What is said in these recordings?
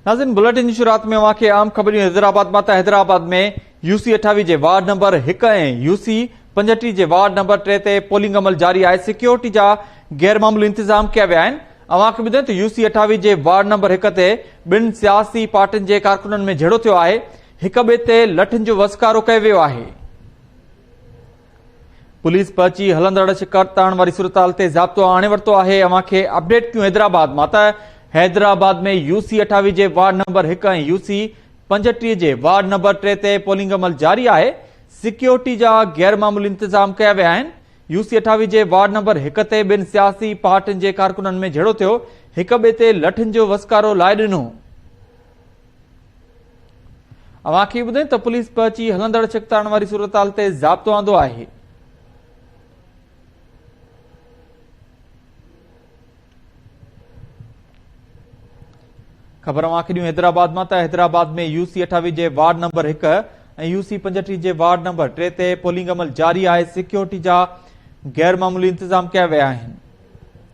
ناظرين بلٽن جي شروعات ۾ اوهان کي عام خبريون حيدرآباد مان ته حيدرآباد ۾ يو سي اٺاويهه جي وارڊ نمبر هڪ ۽ يو سي پنجهٽيهه جي وارڊ نمبر ٽي تي پولنگ عمل جاري آهي سيڪيورٽي جا غير معمولي انتظام ڪيا ويا آهن اوهان کي ٻڌائين ته يو سي اٺاويهه جي وارڊ نمبر هڪ تي ٻن سياسي پارٽين جي ڪارڪنن ۾ جهيڙو ٿيو آهي هڪ ٻئي تي لٺن جو وسڪارو ڪيو ويو آهي پوليس پهچي هلندڙ شڪار تاڻ واري صورتحال تي ضابطو آڻي ورتو آهي اوهان کي اپڊيٽ ڪيون حيدرآباد مان ته حيدرآباد ۾ يو سي اٺاويهه جي وارڊ نمبر هڪ ۽ يو سي پنجٽيهه جي وارڊ نمبر ٽي تي پولنگ عمل جاري آهي سيڪيورٽي جا غير معمولي انتظام ڪيا ويا آهن يو سي اٺاويهه جي وارڊ نمبر هڪ تي ٻن سياسي پارٽين جي ڪارڪنن ۾ جھيڙو ٿيو هڪ ٻئي تي لٺن جو وسڪارو لائي ڏنو اوهان کي ٻڌائين ته پوليس پهچي هلندڙ ڇڪتاڻ واري صورتحال تي ضابطو آندو آهي خبر اوهان کي ڏيون حيدرآباد مان ته حيدرآباد ۾ يو سي اٺاويهه جي وارڊ نمبر هڪ ۽ يو سي پنجٽيهه جي وارڊ نمبر ٽي تي پولنگ عمل جاري آهي سيڪيورٽي جا غير معمولي انتظام ڪيا ويا آهن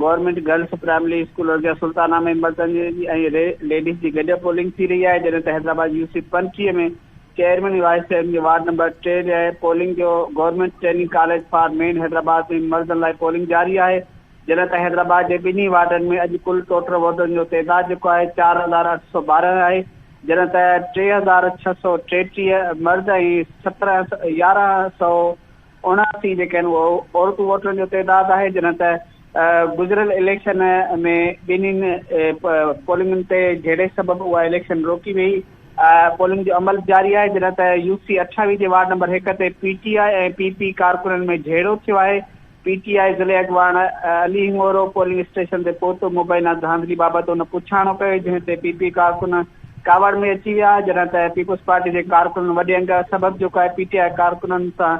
گورنمينٽ گرلس پرائمري اسڪول ارجاء سلطانه ۾ مردن جي ۽ ليڊيز جي گڏيل پولنگ ٿي رهي آهي جڏهن ته حيدرآباد يو سي پنجٽيهه ۾ چيئرمين ۽ وائيس چيئرمين جي وارڊ نمبر ٽي لاء پولنگ جو government training college for men Hyderabad ۾ مردن لاء پولنگ جاري آهي جڏهن ته حيدرآباد جي ٻنهي وارڊن ۾ اڄ ڪل ٽوٽل ووٽرن جو تعداد جيڪو آهي چار هزار اٺ سؤ ٻارهن آهي جڏهن ته ٽي هزار ڇهه سؤ ٽيٽيهه مرد ۽ سترهن يارهن سؤ اوڻاسي جيڪي آهن اهو عورتون ووٽرن جو تعداد آهي جڏهن ته گذريل اليڪشن ۾ ٻنهين پولنگن تي جهيڙي سبب اها اليڪشن روڪي ويئي پولنگ جو عمل جاري آهي جڏهن ته يو سي اٺاويهه جي وارڊ نمبر هڪ تي P T I ۽ P P ڪارڪنن ۾ جهيڙو ٿيو آهي پي ٽي آء ضلعي اڳواڻ علي هڱورو پولنگ اسٽيشن تي پهتو مبينا ڌانڌلي بابت ان پڇاڻو ڪيو جنهن تي پي پي ڪارڪن ڪاوڙ ۾ اچي ويا جڏهن ته پيپلز پارٽي جي ڪارڪنن وڏي انگ سبب جيڪو آهي پي ٽي آء ڪارڪنن سان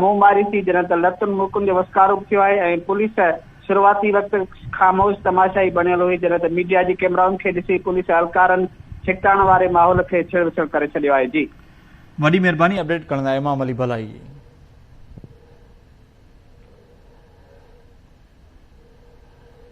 منهن ماري ٿي جڏهن ته لتن مڪن جو وسڪارو به ٿيو آهي ۽ پوليس شروعاتي وقت خاموش تماشائي بڻيل هئي جڏهن ته ميڊيا جي ڪيمرائن کي ڏسي پوليس اهلڪارن ڇڪتاڻ واري ماحول کي ڇڙ وڇڙ ڪري ڇڏيو آهي جي. وڏي مھرباني اپڊيٽ ڪرڻ لاء امام علي ڀلائي جي.